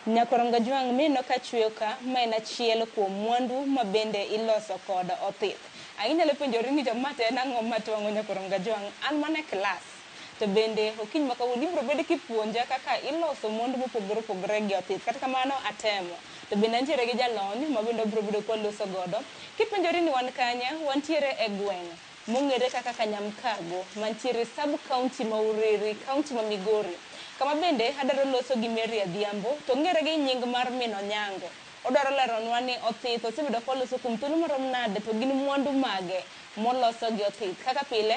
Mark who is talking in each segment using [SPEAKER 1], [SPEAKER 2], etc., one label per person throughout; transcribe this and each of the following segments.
[SPEAKER 1] Nyakorongo Jwang' mino ka chweyo ka ma en achiel kuom mwandu ma bende iloso kod othith. Inyalo penjori ni to ma to en ang'o ma twang'o Nyakorongo Jwang'? An mana e klas. To bende okiny ma kawuono ibiro bedo kipuonja kaka iloso mond mopogore opogore gi othith. Kata kamano atemo. To bende antiere gi jalony ma bende wabiro bedo kwaloso godo. Kipenjori ni wan kanye, wantiere e gweng' mong'ere kaka Kanyamkago mantiere sub-county ma Uriri, county ma Migori. Kama bende adwaro loso gi Mary Adhiambo to ong'ere gi nying mar min Onyango. Odwaro leronwa ni othith osebedo kwaloso kuom thuolo marom nade to gin mwandu mage moloso gi othith. Kaka pile.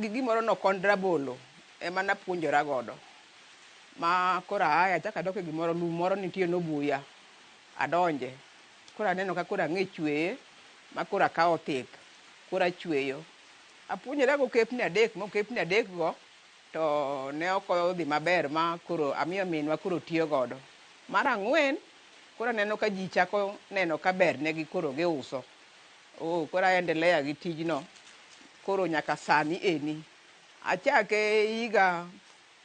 [SPEAKER 2] gi gimoro no kond rabolo ema napuonjora godo ma koro aaye achako adok e gimoro lum moro nitie nobuya adonje koro aneno ka koro ang'e chweye ma koro akawo thith koro achweyo. Apuonjora go okepni adek ma okepni adek go to ne ok odhi maber ma koro amiyo minwa koro tiyo godo. Mar ang'wen koro aneno ka ji chako neno ka ber negi koro giuso. Oh, koro aendelea gi tijno koro nyaka sani eni. Achake higa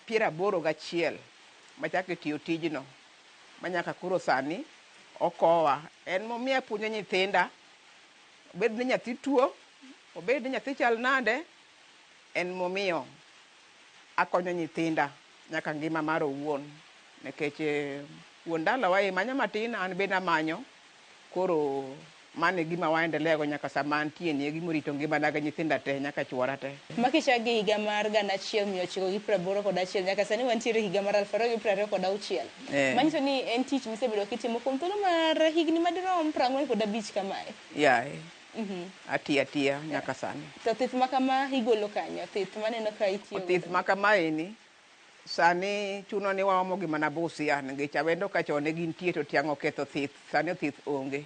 [SPEAKER 2] piero aboro gachiel machake tiyo tijno manyaka koro sani okowa. En momiyo apuonjo nyithinda, obed ni nyathi tuo, obed ni nyathi chal nade, en momiyo akonyo nyithinda nyaka ngima mara owuon nikech eh, wuon dalawa e manyo matin an bende amanyo. Koro mano e gima wa endelea go nyaka sama antie ni, e gima orito ngimana gi nyithinda te nyaka chuora te. Ma kichak gi higa mar
[SPEAKER 1] gana achiel mia ochiko gi praboro kod achiel nyaka sani wantiere e higa mar aluf ariyo gi prariyo kod auchiel. Manyiso ni en tich misebedo kitimo kuom thuolo mar higni madirom prang'wen kod abich kamae. Yaye.
[SPEAKER 2] Atiyo atiya nyaka sani. To thith makama
[SPEAKER 1] igolo kanye? Thith maneno ka itiyo go. Thith makamaeni
[SPEAKER 2] Sani chuno ni waomo gi mana busia nikech awendo ka chon ne gintie to tiang' oketho thith. Sani othith onge.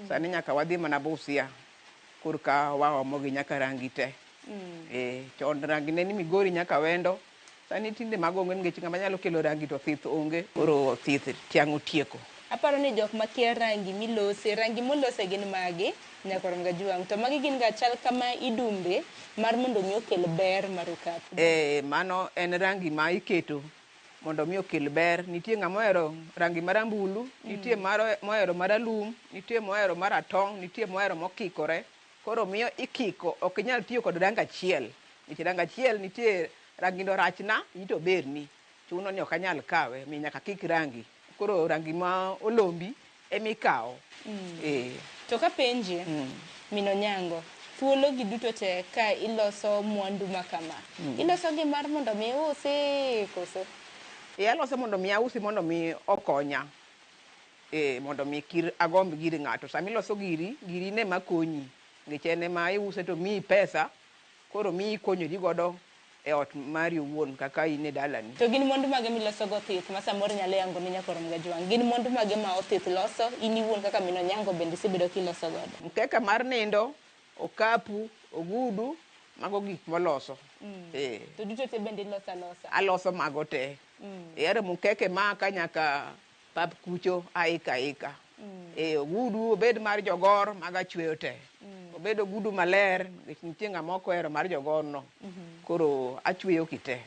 [SPEAKER 2] Sani nyaka wadhi mana busia korka waomo gi nyaka rangi te. Ee, chon rangi ne ni Migori nyaka Awendo. Sani tinde mago onge nikech ng'ama nyalo kelo rangi to thith onge. Koro thith tiang' otieko. Aparo ni jok
[SPEAKER 1] makia rangi milose, rangi molose gin mage? Nyaka orom ga juang. To magi gin ga chal kama idumbe mar mondo omi okel ber mar okapu. Ee, mano en
[SPEAKER 2] rangi ma iketo mondo omi okel ber. Nitie ng'ama ohero rangi marambulu, nitie maro- mohero maralum, nitie mohero maratong', nitie mohero mokikore. Koro miyo ikiko, ok inyal tiyo kod rangi achiel. Nikech rangi achiel nitie, rangino rachna, iyi to oberni. Chuno ni ok anyal kawe, omiyo nyaka kik rangi. Koro rangi ma olombi ema ikawo. Ee.
[SPEAKER 1] To kapenji, min Onyango, thuologi duto te ka iloso mwandu ma kama, ilosogi mar mondo mi iusi koso? Ee alose mondo
[SPEAKER 2] mi ausi mondo mi okonya. Ee mondo mi kir agomb gir ng'ato. Sama iloso giri, giri in ema konyi nikech en ema iuse to omiyi pesa koro omiyi ikonyori godo e ot mari owuon kaka in e dalani. To gin mwandu mage
[SPEAKER 1] milosogo othith ma samoro inyalo yango ne nyakwaro mga Ojwang'? Gin mwandu mage ma othith loso? In iwuon kaka min Onyango bende isebedo kiloso godo? Mkeka mar nindo,
[SPEAKER 2] okapu, ogudu, mago gik moloso. Eeh. To duto
[SPEAKER 1] te bende iloso alosa? Aloso mago te.
[SPEAKER 2] Eeh, aremo mkeke maka nyaka Pap kucho aika aika. Eh, ogudu obed mar jogor mag achweyo te. Obed ogudu maler, nikech nitie ng'ama ok ohero mar jogorno. Koro achweyo kite.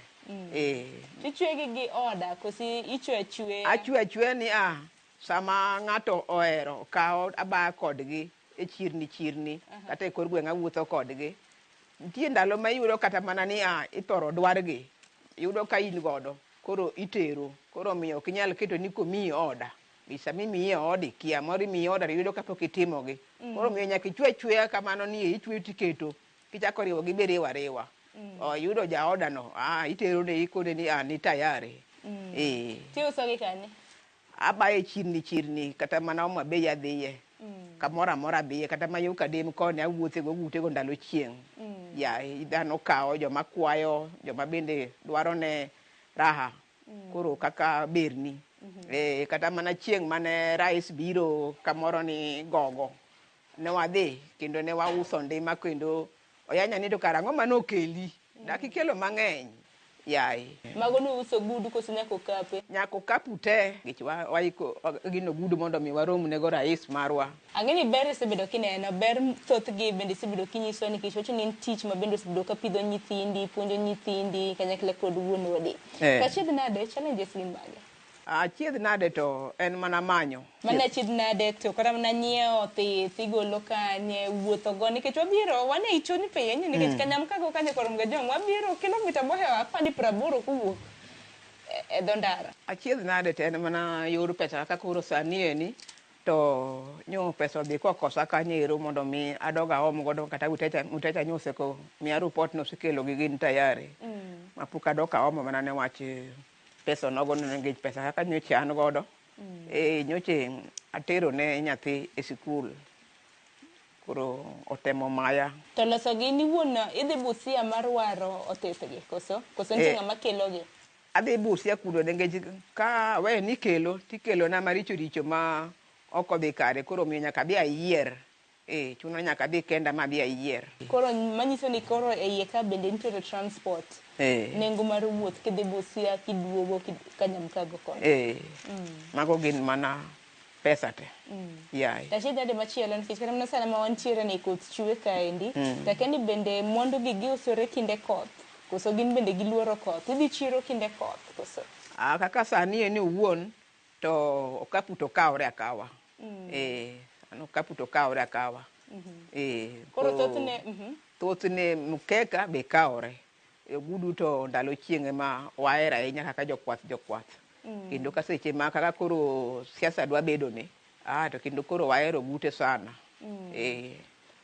[SPEAKER 2] Eh,
[SPEAKER 1] Tichwe gi gi oda kosi ichwe achwe. achwe achwe ni a
[SPEAKER 2] sama ng'ato ohero kawo abaya kodgi e chirni chirni kata e kor gweng' awuotho kodgi nitie ndalo ma iyudo kata mana ni a ithoro dwargi yudo ka in godo Koro itero. Koro omiyo ok inyal keto ni komiyi oda. Nikech sama imiyi e odi, kia moro imiyi oda to iyudo kapok itimogi. Koro omiyo nyaka ichwe achweya kamano ni e ichweyo tiketo. Kichako riwogi be iriwo ariwa. Oh, iyudo jaodano, ah, iterone ikone ni an ni tayari. Ee.
[SPEAKER 1] Tiusogi kanye? Abaye
[SPEAKER 2] chirni chirni kata mana Homa Bay adhiye. Kamoro amora adhiye kata ma yo Kadem koni awuothe go ute go ndalo chieng'. Yeah, dhano kawo, joma kwayo, joma bende dwaro ne raha koro kaka berni. Eh, kata mana chieng' mane Rais biro kamoro ni Gogo ne wadhi kendo ne wauso ndima kendo Oyanya ni to kara ang'o mane okeli. Dak ikelo mang'eny yaye. Mago ne uso
[SPEAKER 1] ogudu koso nyaka okape? Nyaka okapu te
[SPEAKER 2] nikech waiko gin ogudu mondo mi warom nego rais marwa. Ang'e ni ber isebedo
[SPEAKER 1] kineno, ber thoth gi bende isebedo kinyisowa nikech iwacho ni en tich ma bende osebedo ka pidho nyithindi, puonjo nyithindi kanyakla kod wuon odi. Kachiedh nade, challenges gin mage? Achiedh nade
[SPEAKER 2] to en mana manyo. Mano achiedh nade
[SPEAKER 1] to kata mana nyiewo thith igolo kanye, wuotho go nikech wabiro wan e Ichoni piny nikech mm. Kanyam kago kanye korom ga jom wabiro kilomita mohewa apani praboro kuwuok e, e dho ndara. Achiedh nade to en
[SPEAKER 2] mana yor pesa kaka koro sani eni to nyo pesa odhi kokosa kanyo ero mondo mi adog aom godo kata utecha utecha nyo oseko miya report no osekelo gi gin tayari mm. mapok adok aomo mana ne wach pesa onogo no nikech pesa kaka nyocha an godo mm. eh, nyocha atero ne nyathi e sikul koro otemo maya to loso gi ni
[SPEAKER 1] wuon idhi busia mar waro otethgi koso koso nitie eh, ng'ama kelogi adhi busia
[SPEAKER 2] kuno nikech ka we ni kelo tikelo na maricho richo ma ok odhi kare koro miyo nyaka adhi ayier Eeh chuno nyaka adhi kenda ma adhi ayier. Koro manyiso
[SPEAKER 1] ni koro eiye ka bende nitiere transport, nengo mar wuoth kidhi Busia kiduogo ka Nyamkago koni. Eeh, mago
[SPEAKER 2] gin mana pesa te. Yaye. Tashida nade machielo
[SPEAKER 1] nikech kata mana sani ma wantiere ni koth chwe kaendi, to akia ni bende mwandu gi giusore kinde koth koso gin bende giluoro koth. Idhi chiro kinde koth koso? Aah kaka sani
[SPEAKER 2] endi owuon To okapu to kawore akawa. Eh, an okapu to kawore akawa. Eh,
[SPEAKER 1] Koro to thothne, mhm.
[SPEAKER 2] thothne mkeka be kawore. E, Ogudu to ndalo chieng' ema wahero ahinya kaka jokwath jokwath. Kendo ka seche ma kaka koro siasa dwa bedoni, ah, to kendo koro wahero ogute sana. Eh,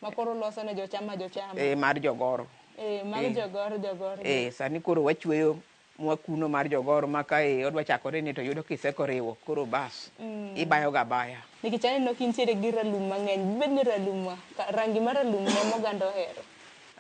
[SPEAKER 1] Ma koro uloso ne jochama jochama. eh, mar jogoro.
[SPEAKER 2] Eh, mag Eh. jogoro
[SPEAKER 1] jogoro. Eh, sani koro
[SPEAKER 2] wachweyo mwa kuno mar jogoro ma ka e odwa chakore ni to yudo kiseko riwo koro bas mm. ibayo ga baya nikech aneno ka intiere
[SPEAKER 1] gi ralum mang'eny bibed ni ralum ma rangi mar ralum ne moganda ohero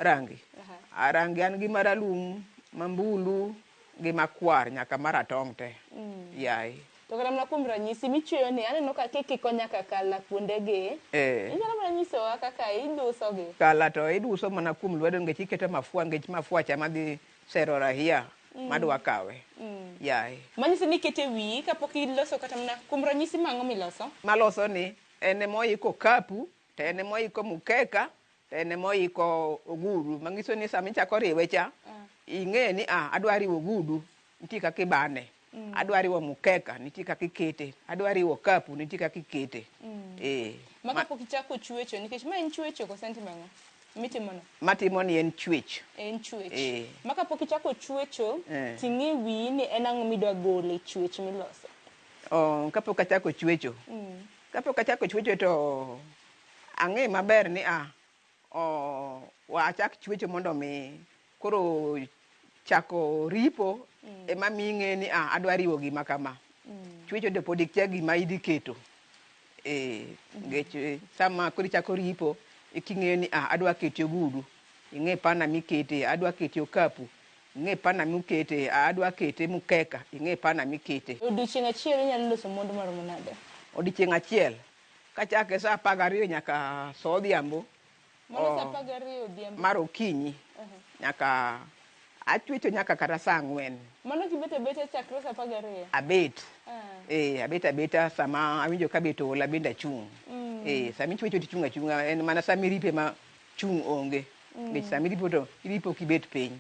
[SPEAKER 1] rangi
[SPEAKER 2] uh-huh. rangi an gi maralum mambulu gi makwar nyaka maratong' te mm. yaye to kata mana kuom
[SPEAKER 1] ranyisi michweyo ni aneno ka kikiko nyaka kala kuondegi eh. inyalo mana nyisowa kaka idusogi kala to iduso
[SPEAKER 2] mana kuom lwedo nikech iketo mafua nikech mafua cha madhi Sero rahia madwa kawe. Yaye. Manyiso ni iket e
[SPEAKER 1] wiyi kapok iloso kata mana kuom ranyisi mang'o miloso? Maloso ni
[SPEAKER 2] en ema oiko okapu, to en ema oiko mukeka, to en ema oiko ogudu. Manyiso ni sama ichako riwe cha, ing'eyo ni ah, adwa riwo ogudu, nitie kaka ibane. Mm. Adwa riwo mkeka, nitie kaka ikete. Adwa riwo kapu, nitie kaka ikete. Mm. Eh. Ma
[SPEAKER 1] kapok ichako chuecho, nikech ma en chuecho koso en timang'o? Mitimono? Matimo ni en
[SPEAKER 2] chuech. En chuech. Eh.
[SPEAKER 1] Ma kapok ichako chuecho, eh. ting'e wiyi ni en ang'o midwa gole chuech miloso? Oh, kapok
[SPEAKER 2] achako chuecho. Mm. Kapok achako chuecho to ang'e maber ni ah, oh, wachak chuecho mondo mi Koro chako ripo mm. ema miyi ng'eyo ni ah, adwa riwo gima kama. Mm. Chwecho to pod ikia gima idhi keto. Eh, ngech mm. eh, sama koro ichako ripo iking'eyo ni ah, adwa keto ogudu. Ing'e pana mikete, adwa keto okapu ing'e pana mukete adwa kete mukeka ing'e pana mikete odiochieng' achiel inyalo
[SPEAKER 1] loso mwandu maromo nade odiochieng' achiel
[SPEAKER 2] kachake saa apar gariyo nyaka saa odhiambo Mano saa apar gariyo odhiambo. mar okinyi nyaka achwecho nyaka kata saa ang'wen Mano kibet abeta
[SPEAKER 1] chakre saa apar gariyo. abet Ah. eh, abet abeta
[SPEAKER 2] sama awinjo ka bet oola bende achung' eh, sama ichwecho to ichung' achung'a en mana sama iripo ema chung' onge nikech sama iripo to iripo kibet piny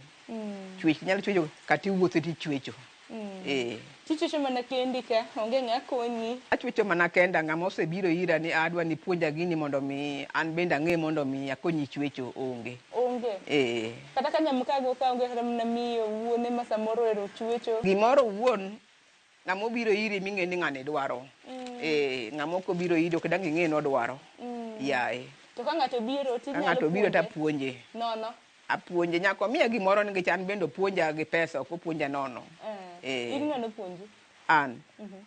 [SPEAKER 2] chwech inyalo chwecho kata iwuotho to ichwecho Mm. Eh.
[SPEAKER 1] Tichuecho mana kendi ka, onge ng'a konyi. Achuecho mana kenda,
[SPEAKER 2] ng'ama osebiro ira ni adwa ni puonja gini mondo mi an bende ang'e mondo mi akonyi chuecho onge. Onge. Eh.
[SPEAKER 1] Kata ka nyamkago ka onge kata mana miyo wuon ema samoro ero chuecho. Gimoro wuon
[SPEAKER 2] ng'ama obiro iri ming'e ni ng'ani dwaro. Mm. Eh, ng'ama ok obiro iri ok dang' ing'e ni odwaro. Mm. Yaye. To ka ng'ato
[SPEAKER 1] obiro tinyalo puonje. Ka ng'ato obiro tapuonje.
[SPEAKER 2] Nono.
[SPEAKER 1] Apuonje nyaka
[SPEAKER 2] omiya gimoro nikech an bende opuonja gi pesa ok opuonja nono. Eh, in ng'ano puonji? An.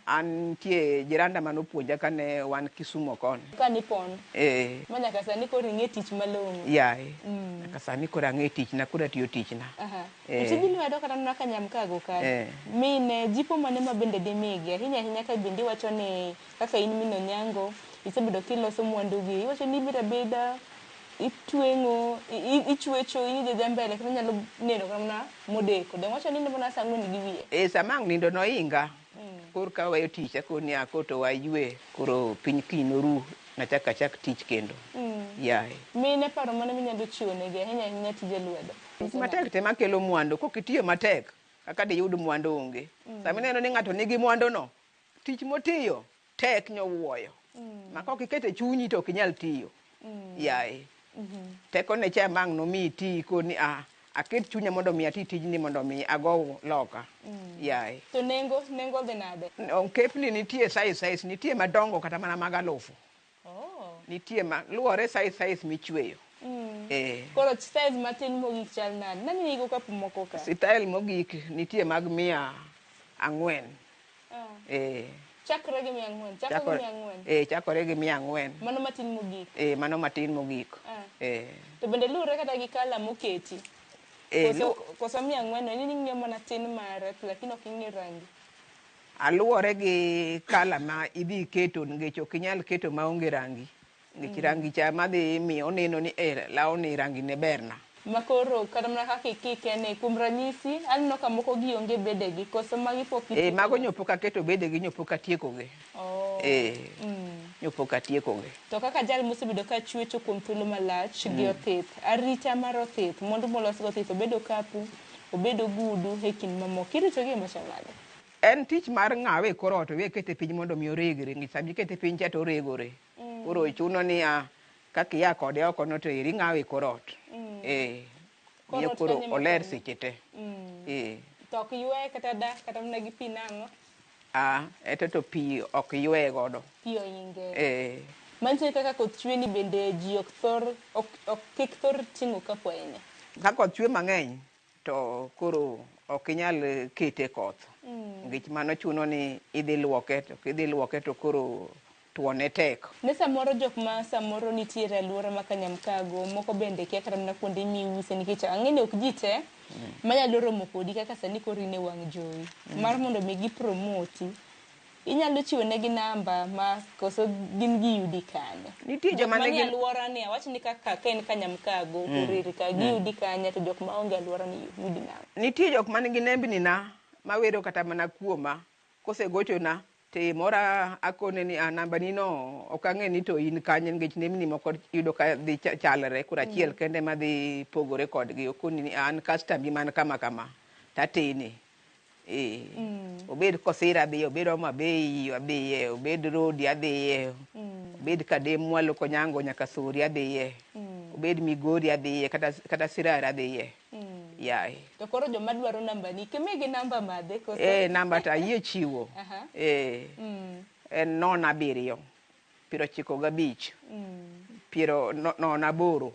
[SPEAKER 2] An nitie jiranda mane opuonja kane wan Kisumo koni. Kane ipon. Eh.
[SPEAKER 1] Ma nyaka sani koro ing'e tich malong'o. Yaye. Mm.
[SPEAKER 2] Nyaka sani koro ang'e tichna, koro atiyo tichna. Aha. Eh. E tij lwedo
[SPEAKER 1] kata nona ka nyamkago kae. Eh. Mine, jipo mane ma bende dimigi? Ahinya ahinya ka bende iwacho ni kaka in min Onyango, isebedo kiloso mwandugi. Iwacho ni ibiro abida, itweng'o ichwecho in ijaja mbele kata nyalo neno kata mana modeko dong' wacho nindo mana saa ang'wen gi wiye e sama ang' nindo noinga
[SPEAKER 2] kor ka waweyo tich akoni ni akoto waywe koro piny kiny noru nachak achak tich kendo yaye mine paro mane
[SPEAKER 1] minyalo chiwo negi ahinya ahinya tije lwedo tich matek te makelo
[SPEAKER 2] mwandu kok itiyo matek kaka diyud mwandu onge sama ineno ni ng'ato nigi mwandu no Tich motiyo tek nyowuoyo. Ma kok ikete chunyi to ok inyal tiyo. Yaye. Teko ne cha mang' nomi iti koni a aket chunya mondo mi ati tijni mondo mi ago loka. Yaye. To nengo,
[SPEAKER 1] nengo dhi nade? Ongepni nitie
[SPEAKER 2] size size, nitie madongo kata mana mag alufu. Oh. Nitie ma luwore size size michweyo. Mm. Eh.
[SPEAKER 1] Koro size matin mogik chal nade? Nani nigi okapu moko ka? Style mogik
[SPEAKER 2] nitie mag mia ang'wen. Ah. Eh.
[SPEAKER 1] Chakre gi mia ang'wen. Chakre gi mia ang'wen. Eh, chakore gi mia
[SPEAKER 2] ang'wen. Mano matin mogik.
[SPEAKER 1] Eh, mano matin
[SPEAKER 2] mogik. Ah. Eh. To
[SPEAKER 1] bende luwore kata gi kala moketi. Eh, koso, koso mia ang'wen, ini ning'e mana tin mare, lakini ok ing'e rangi. Aluwore
[SPEAKER 2] gi kala ma idhi keto nikech ok inyal keto ma onge rangi. Nikech mm. rangi cha ma dhi miyo oneno ni eh, lawo ni rangi ne berna. Ma koro kata
[SPEAKER 1] mana kaka ikike ni kuom ranyisi aneno ka moko gi onge bedegi koso magi pok ikike. Eh, mago nyo pok aketo
[SPEAKER 2] bedegi nyo pok atiekogi. Oh. Eh. Mm. Nyo pok atiekogi. To kaka jal mosebedo
[SPEAKER 1] ka chuecho kuom thuolo malach mm. gi othith, arita mar othith, mwandu molos gi othith obedo kapu, obedo gudu e kind mamoko. Iritogi e machal nade? En tich mar
[SPEAKER 2] ng'awe e kor ot owe kete piny mondo mi oregre nikech sama ikete piny cha to oregore. Koro chuno niya kaka ia kode oko no to eri ing'awe e kor ot. Eh. Kor Miyo ot koro kanyo ema oler koro. seche te. Eh.
[SPEAKER 1] To ok yweye kata da kata mana gi pi nang'o? Ah,
[SPEAKER 2] eto to pi ok yweye godo. Pi oinge.
[SPEAKER 1] Eh. Manyiso ni kaka koth chwe ni bende ji ok thor ok ok kik thor ting'o ka kwayene. Ka koth chwe
[SPEAKER 2] mang'eny to koro ok inyal kete koth nikech mano chuno ni idhi lwoke to kidhi lwoke to koro twone tek. Ne samoro jok ma
[SPEAKER 1] samoro nitiere e alwora ma Kanyamkago, moko bende kia kata mana kuonde miuse nikech ang'e ni ok ji te manyalo romo kodi kaka sani koro in e wang' jowi mar mondo mi gi promoti. Inyalo chiwo negi namba ma koso gin giyudi kanye? Nitie jok joma manie nigi
[SPEAKER 2] alworani awach ni
[SPEAKER 1] kaka ka in ka Nyamkago, Orir ka, giyudi kanye to jok ma onge e alworani yudi nang'o? nitie jok man gi
[SPEAKER 2] nembni na mawero kata mana kuoma kosegochona to iye mora akone ni a namba ni no ok ang'e ni to in kanye nikech nembni moko iyudo ka dhi cha- chalre koro achiel kende ema dhi pogore kodgi okoni ni an kastambi man kama kama to atene mm. obed kosira adhiye obed omo abeyi adhiye obed rodi adhiye mm. obed kadem mwalo konyango nyaka sori adhiye mm. obed migori adhiye kata, kata sirara adhiye mm. yaye to koro joma
[SPEAKER 1] dwaro namba ni kimigi namba madhe koso eh namba ta yie
[SPEAKER 2] chiwo uh -huh. eh mm. en non abiriyo piero chiko gabich mm. piero non no, aboro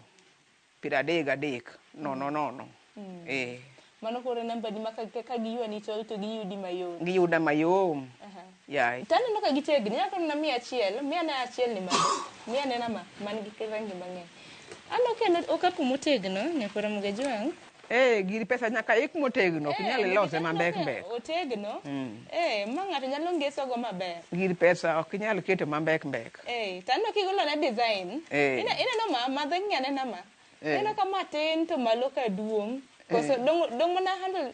[SPEAKER 2] Piero adek gadek, nono nono. Ee.
[SPEAKER 1] Mano koro e namba ni ma ka, ka, ka giywani to, to giyudi mayot. Giyuda mayom.
[SPEAKER 2] Aha. Yeah. To aneno ka gitegni,
[SPEAKER 1] inyalo kata mana miya achiel, miya ane achiel ni mano. Miya ane na ma, man gi rangi mang'eny. Aneno ka en okapu motegno, Nyakwar Mugejwang'. Ee, gir pesa
[SPEAKER 2] nyaka ik motegno, ok nyal ilose ma mbek mbek. Otegno.
[SPEAKER 1] Ee, ma ng'ato nyalo ngesogo maber. Gir pesa ok
[SPEAKER 2] inyal keto ma mbek mbek. Ee, to aneno
[SPEAKER 1] kigolona design. Ee. Ine- Ineno ma, ma dheng'i anena ma. Ee. Ineno ka ma tin to malo ka duong'. Koso dong' dong' mana handle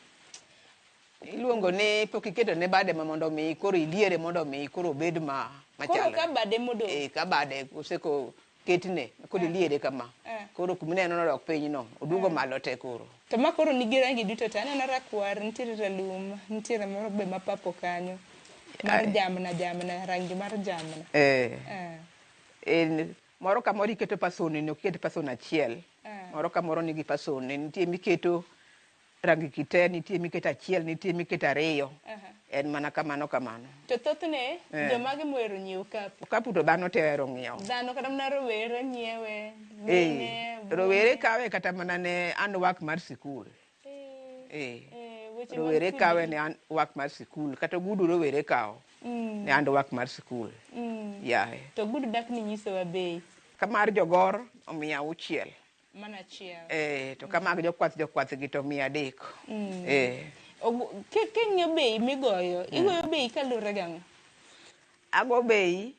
[SPEAKER 2] Iluongo ni pok iketo ne bade ma mondo mi koro iliere mondo mi koro obed ma koro machalo. ka bade modong'.
[SPEAKER 1] Ee, ka bade oseko
[SPEAKER 2] Ketne, kodi liere kama. Koro kuma ineno nodok piny no, oduogo malo te koro. To ma koro nigi
[SPEAKER 1] rangi duto te, aneno rakwar, nitiere ralum, nitiere moro be ma purple kanyo. Mar jamna jamna, rangi mar jamna. Eh. Eh. En,
[SPEAKER 2] moro ka moro iketo person ne, ok iket person achiel. Moro ka moro nigi person ne, nitie miketo. Rangi kite nitie miketo achiel nitie miketo ariyo. Aha. En mana kamano kamano. To thothne
[SPEAKER 1] Eh. jomage mohero nyiewo okapu? Okapu to dhano te ohero
[SPEAKER 2] ng'iewo. Dhano kata mana rowere
[SPEAKER 1] nyiewe, Eh, mine, wuone.
[SPEAKER 2] rowere kawe kata mana ne an wak mar sikul. Eh, Eh, eh, weche mag rowere kudi. kawe ne an wak mar sikul kata ogudu rowere kawo Mm, ne an wak mar sikul. mm. Yaye. To gudu dak ni
[SPEAKER 1] nyisowa bei. Ka mar jogor
[SPEAKER 2] omiya auchiel. Mano
[SPEAKER 1] achiel. Eh, to ka mag
[SPEAKER 2] jokwath jokwath gi to mia adek. Mm. Eh. Ogu- ki-
[SPEAKER 1] King'iyo bei migoyo, igoyo bei kaluwore gang'o? ago
[SPEAKER 2] bei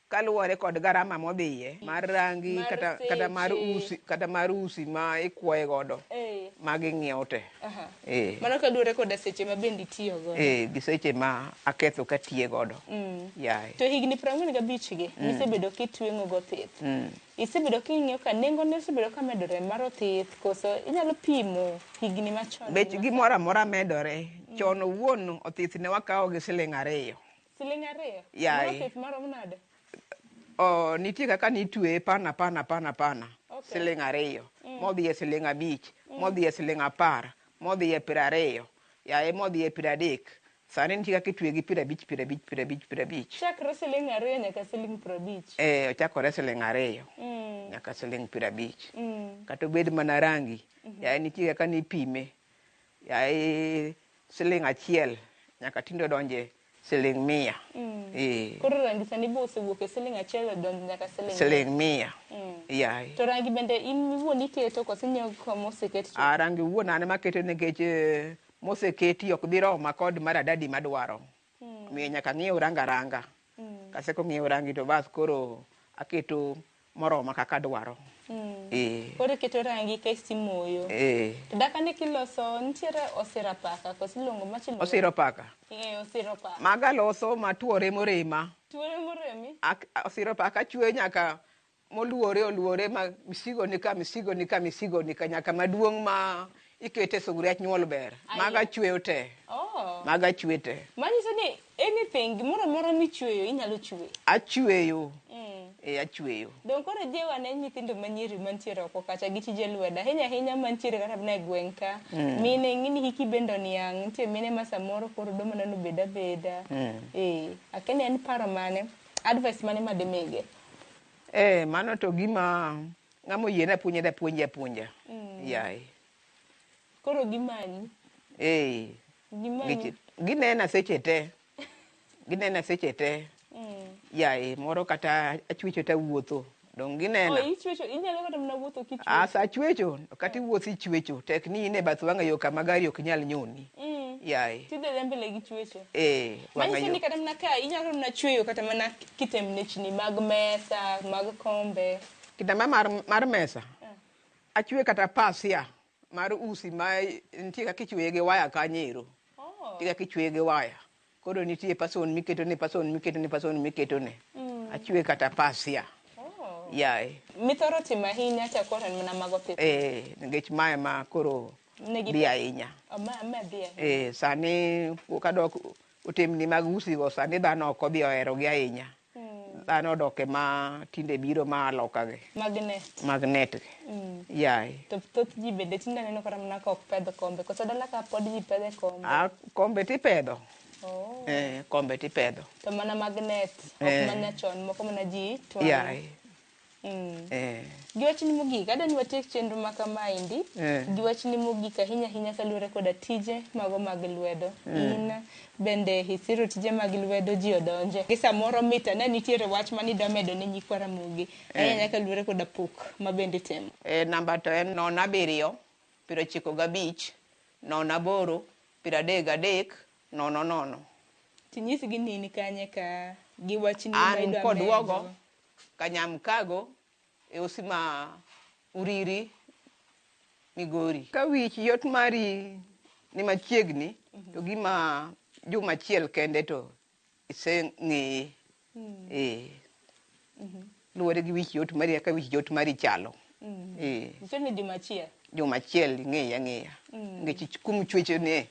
[SPEAKER 2] kaluwore kod garama modhiye mar rangi Mar kata, kata mar seche. usi kata mar usi ma ikwoye godo Eh. ma ging'iewo te Aha. eh, Mano
[SPEAKER 1] kaluwore koda seche ma bende itiyo godo. eh, gi seche ma
[SPEAKER 2] aketho katiye godo Mm. yaye To higni 45
[SPEAKER 1] gi misebedo kitweng'o go pith, mm. Isebedo king'iyo ka nengone osebedo ka medore mar othith koso inyalo pimo higni machon? Bech gimoro amora
[SPEAKER 2] medore. Mm. Chon owuon othith ne wakawo gi siling ariyo. Siling ariyo?
[SPEAKER 1] Yeah. Moro othith marom nade? Oh,
[SPEAKER 2] nitie kaka nitweye pana pana pana pana. Okay. Siling ariyo. Mm. Modhi e siling abich. Mm. Modhi e siling apar. Modhi e piero ariyo. Yaye modhi e piero adek. Sani nitie kaka itweye gi piero abich, piero abich, piero abich, piero abich. Chakre siling'
[SPEAKER 1] ariyo nyaka siling' piero abich. Eh, ochakore siling' ariyo
[SPEAKER 2] Mm. nyaka siling' piero abich. Mm. Kata obed mana rangi, yaye nitie kaka nipime. Yaye siling' achiel nyaka tinde odonje siling' mia. Mm. Eh, Koro rangi sani
[SPEAKER 1] be osewuok e siling' achiel odonjo nyaka siling'. siling' mia. Mm.
[SPEAKER 2] Yaye. To rangi bende in
[SPEAKER 1] iwuon iketo koso inyiewo kama oseket to? Ah, rangi wuon an ema
[SPEAKER 2] aketo nikech eh, moseketi ok dhi roma kod maradadi madwaro mm. omiyo nyaka ng'iew ranga ranga mm. kase kong'iew rangi to bas koro aketo moroma kaka dwaro mm. e.
[SPEAKER 1] koro iketo rangi ka isimoyo e. to dakani kiloso nitiere osira paka koso iluongo machielo osiro paka
[SPEAKER 2] e, osiro paka
[SPEAKER 1] maga loso matuore
[SPEAKER 2] morema tuore moremi osiro paka chwe nyaka moluore oluore ma misigo ni ka misigo ni ka misigo ni ka nyaka maduong' ma ikete sugria nyuol ber Aye. maga chweyo te Oh. maga chwe te Manyiso ni
[SPEAKER 1] anything gimoro amora michweyo inyalo chwe. achweyo
[SPEAKER 2] Mm. e achweyo Donge koro jiwo
[SPEAKER 1] ane nyithindo manyiri mantiere oko kacha gi tije lwedo ahinya ahinya mantiere kata mana e gweng' ka mine ng'ini hiki bende oniang' nitie mine ma samoro koro do mana nobed abeda ee akene en paro mane advice mane madimige Eh,
[SPEAKER 2] mano to gima ng'ama oyie na puonja da puonja puonja. Mm. Yaye.
[SPEAKER 1] Koro gimanyi. Eh. Gimanyi.
[SPEAKER 2] Ginena seche te. Ginena seche te. Mm. Yaye, moro kata achwicho ta wuotho. Dong ginena. Oh, ichwecho, inyalo kata
[SPEAKER 1] mna wuotho kichwecho. Asa achwecho,
[SPEAKER 2] kata iwuothi mm. ichwecho. Tek ni ine bath wang'a yo kama gari ok nyal nyoni. Mm. Yaye. Tidhe mbele gi
[SPEAKER 1] chwecho. Eh, wang'a yo. Manyiso ni
[SPEAKER 2] kata mna ka
[SPEAKER 1] inyalo
[SPEAKER 2] mna
[SPEAKER 1] chweyo kata mana kitembnechni mag mesa, mag kombe. Kitamba mar,
[SPEAKER 2] mar mesa achwe kata pasia mar usi ma nitie kaka ichweye gi waya kanyero Oh. nitie kaka ichweye gi waya koro nitie pason miketone pason miketone pason miketone achwe kata pasia Oh. yaye Mithoro timo
[SPEAKER 1] ahinya cha koro en mana mago pith. eh, nikech mae
[SPEAKER 2] ma koro Negi- dhi ahinya Oh, ma, ma dhi ahinya. eh, sani pok adok Otemni mag usigo sani dhano ok odhi oherogi ahinya. Dhano odoke ma tinde biro ma aloka gi. Magnet. Magnet gi. Mm. Yaye. To thoth ji
[SPEAKER 1] bende tinde aneno kata mana ka ok pedh kombe. Koso dala ka pod ji pedhe kombe. A kombe tipedho.
[SPEAKER 2] Oh. Eh, kombe tipedho. To mana magnet.
[SPEAKER 1] Ok eh. mana chon moko mana ji twang'o. Yaye.
[SPEAKER 2] Mm. Eh. Gi
[SPEAKER 1] wachni mogik, adwa ni watiek chenro ma kamaendi Eh. gi wachni mogik ahinya ahinya kaluwore koda tije mago mag lwedo. In bende isiro tije mag lwedo ji odonje. Gi samoro mit ane nitiere wach ma nidwa medo ne nyikwa Ramogi. Ahinya ahinya kaluwore koda pok ma bende itimo. Eh, namba to en
[SPEAKER 2] nono abiriyo, piero ochiko gabich, nono aboro, piero adek gadek, nono nono. Tinyisgi
[SPEAKER 1] ni in kanye ka gi wachni ma An idwa kodwogo,
[SPEAKER 2] medo. Kanyamkago e osi ma Uriri, Migori. Ka wich yot mari ni machiegni to gima juma achiel kende to iseng'eye. Eh. Luwore gi wich yot mari kaka wich yot mari chalo. Eh. Nyiso
[SPEAKER 1] ni juma achiel. Juma
[SPEAKER 2] achiel ing'eye ang'eya. Nikech ich- kumichwechone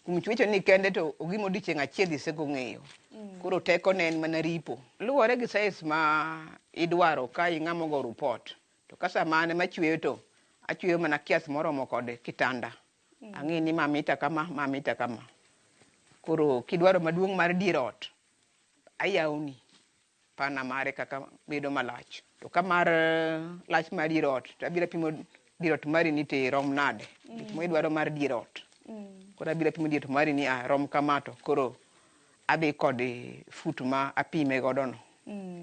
[SPEAKER 2] Kuom chwecho ni kende to ogima odiechieng' achiel isego ng'eyo. Mm. Koro teko ne en mana ripo. Luwore gi size ma idwaro ka ing'ama ogo report. To ka sama an ema achweyo to achweyo mana kias moromo kod kitanda. Mm. Ang'e ni ma mita kama, ma mita kama. Koro kidwaro maduong' mar dier ot, ayawoni. Spanner mare kaka bedo malach. To ka mar lach mar dier ot, to abiro apimo dier ot mari ni te rom nade. Gik ma idwaro mar dier ot. Koro abiro apimo dier ot mari ni ah, rom kama to koro adhi kod eh, fut ma apime godo no.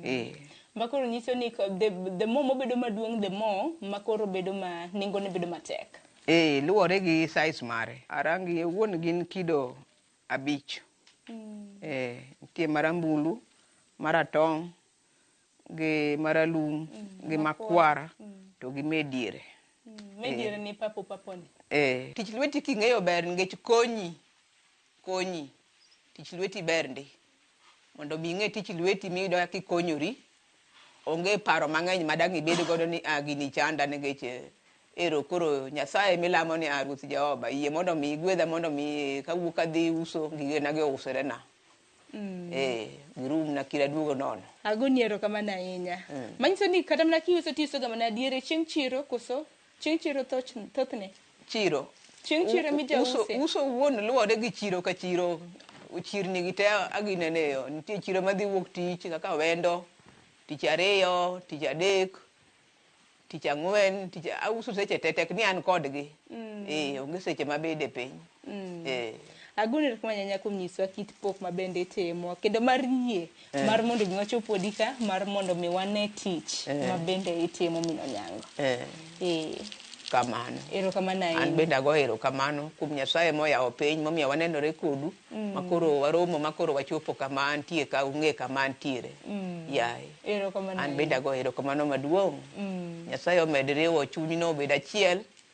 [SPEAKER 2] Eh. Ma
[SPEAKER 1] koro nyiso ni ko- the, the more mobedo maduong' the more ma koro bedo ma nengone bedo matek. Eh, luwore gi
[SPEAKER 2] size mare. Arangi owuon gin kido abich. Eh, nitie marambulu, maratong', gi maralum, gi makwar, to gi me diere. Mediere
[SPEAKER 1] ni papo papo ni. Eh, tich lweti
[SPEAKER 2] king'eyo ber nikech konyi, konyi. Tich lweti ber ndi. mondo mi ing'e tich lweti miyudo kaka ikonyori. Onge paro mang'eny ma dang' ibed godo ni ah gini chanda nikech eh, ero koro Nyasaye milamo ni ah Ruoth Jehova yie mondo mi igwedha mondo mi kawuok adhi uso gigena gi ousorena. Eh, girum na kira duogo nono. Agoni erokamano
[SPEAKER 1] ahinya. Manyiso ni kata mana kiuso tiusoga mana diere chieng' chiro koso? Chieng' chiro thothne. Chiro.
[SPEAKER 2] Chieng' chiro emi jause. Uso, uso
[SPEAKER 1] wuon luwore
[SPEAKER 2] gi chiro ka chiro. Chirni gi te aginene yo. Nitie chiro madhi wuok tich kaka wendo, tich ariyo, tich adek, tich ang'wen, tich auso seche te tek ni an kodgi. Mm. Eh, onge seche mabede piny. Mm. Eh.
[SPEAKER 1] Agoni erokamano nyanya kuom nyiswa kit pok ma bende itimo kendo mar yie Eh. mar mondo mi wachop odi ka mar mondo mi wane tich Eh. ma bende itimo min Onyango. Eh. Eh. kamano
[SPEAKER 2] Erokamano an ahinya.
[SPEAKER 1] bende ago erokamano
[SPEAKER 2] kuom nyasaye moyawo piny momiyo wanenore kodu Mm. makoro waromo makoro wachopo kama antie ka ung'e kama antiere Mm. yaye Erokamano an ahinya.
[SPEAKER 1] bende ago erokamano
[SPEAKER 2] maduong' Mm. nyasaye omed riwo chunyno obed achiel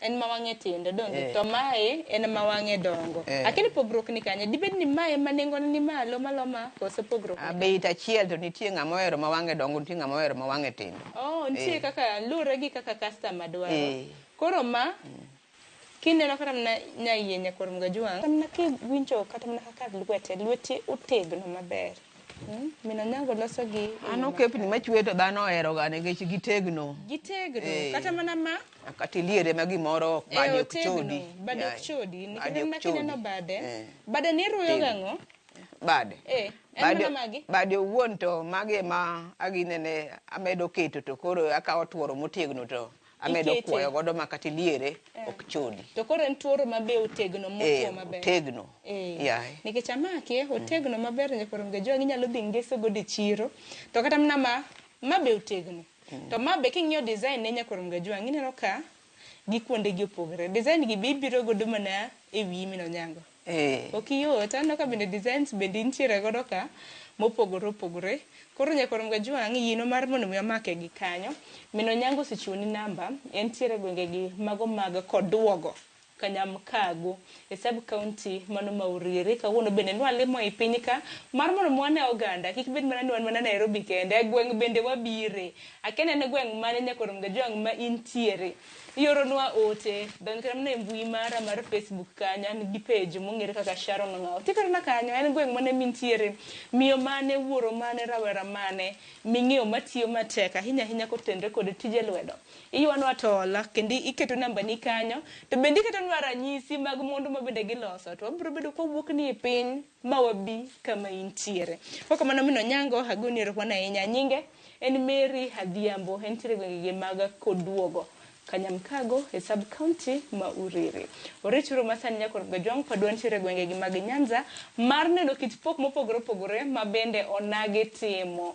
[SPEAKER 1] en ma wang'e tindo donge eh. to mae en ma wang'e dongo eh. akini pogruok ni kanye dibed ni mae ma nengone ni malo maloma koso pogruok ah, beit achiel to
[SPEAKER 2] nitie ng'ama ohero ma wang'e dongo nitie ng'ama ohero ma wang'e tindo oh nitie eh. kaka
[SPEAKER 1] lure gi kaka customer dwaro eh. koro ma mm. kineno kata mana nyaiye nyakor mgajuang kata mana kiwinjo kata mana kaka lwete lwete otegno maber Hmm? Min Onyango loso gi an okepni machwe
[SPEAKER 2] to dhano oheroga nikech gitegno. Gitegno. Eh. Kata
[SPEAKER 1] mana ma kata iliere ma
[SPEAKER 2] gimoro ok badi ok chodi bade ok chodi
[SPEAKER 1] nikech ma kineno bade eh. bade ni ruyo eh. gang'o bade
[SPEAKER 2] eh bade magi
[SPEAKER 1] bade owuon to
[SPEAKER 2] magi ma aginene amedo keto to koro akawo tworo motegno to amedo kuoyo godo ma kata iliere eh. ok chodi to koro en tworo ma
[SPEAKER 1] be otegno mokuo maber otegno
[SPEAKER 2] yaye nikech
[SPEAKER 1] amake mm. otegno maber nyakoro ngejo ginyalo dhi ngeso godo e chiro to kata mana ma ma be otegno To ma be king'iyo design ne nyakwar Mgajwang' ineno ka gi kuonde gi opogore. Design gi be ibiro godo mana e wiyi min Onyango. Eh. Ok yot. Aneno ka bende designs bende intiere godo ka mopogore opogore. Koro nyakwar Mgajwang' yieno mar mondo mi wamake gi kanyo. Min Onyango osechiwoni namba, entiere e gwenge gi mago mag Koduogo. Kanyamkago e sub county mano ma Uriri. Kawuono bende nwa limo ei piny ka mar mondo mi wane oganda kik bed mana ni wan mana Nairobi kende. E gweng' bende wabire. Akia ni en e gweng' mane nyaka orom ga jwang' ma intiere. Ioro nwa ote. Donj kata mana e mbui mara mar Facebook kanyo an gi page mong'ere kaka Sharon Ong'aw. Tigodo na kanyo. En gweng' mane mintiere. Miyo mane, wuoro mane, rawera mane ming'eyo matiyo matek ahinya ahinya kotenre kod tije lwedo. Iywanwa to hola kendo iketo nambani kanyo to bende iketonwa ranyisi mag mwandu ma bende giloso to wabiro bedo ka wawuok ni e piny ma wabi kama intiere. Ka ok kamano min Onyango agoni erokamano ahinya. Nyinge en Mary Adhiambo entiere e gwenge gi mag Koduogo Kanyamkago e sub county ma Uriri. Orich uru ma sani nyakor Gajwang' padwa nitiere e gwenge gi mag Nyanza mar neno kit pok mopogore opogore ma bende onagi timo.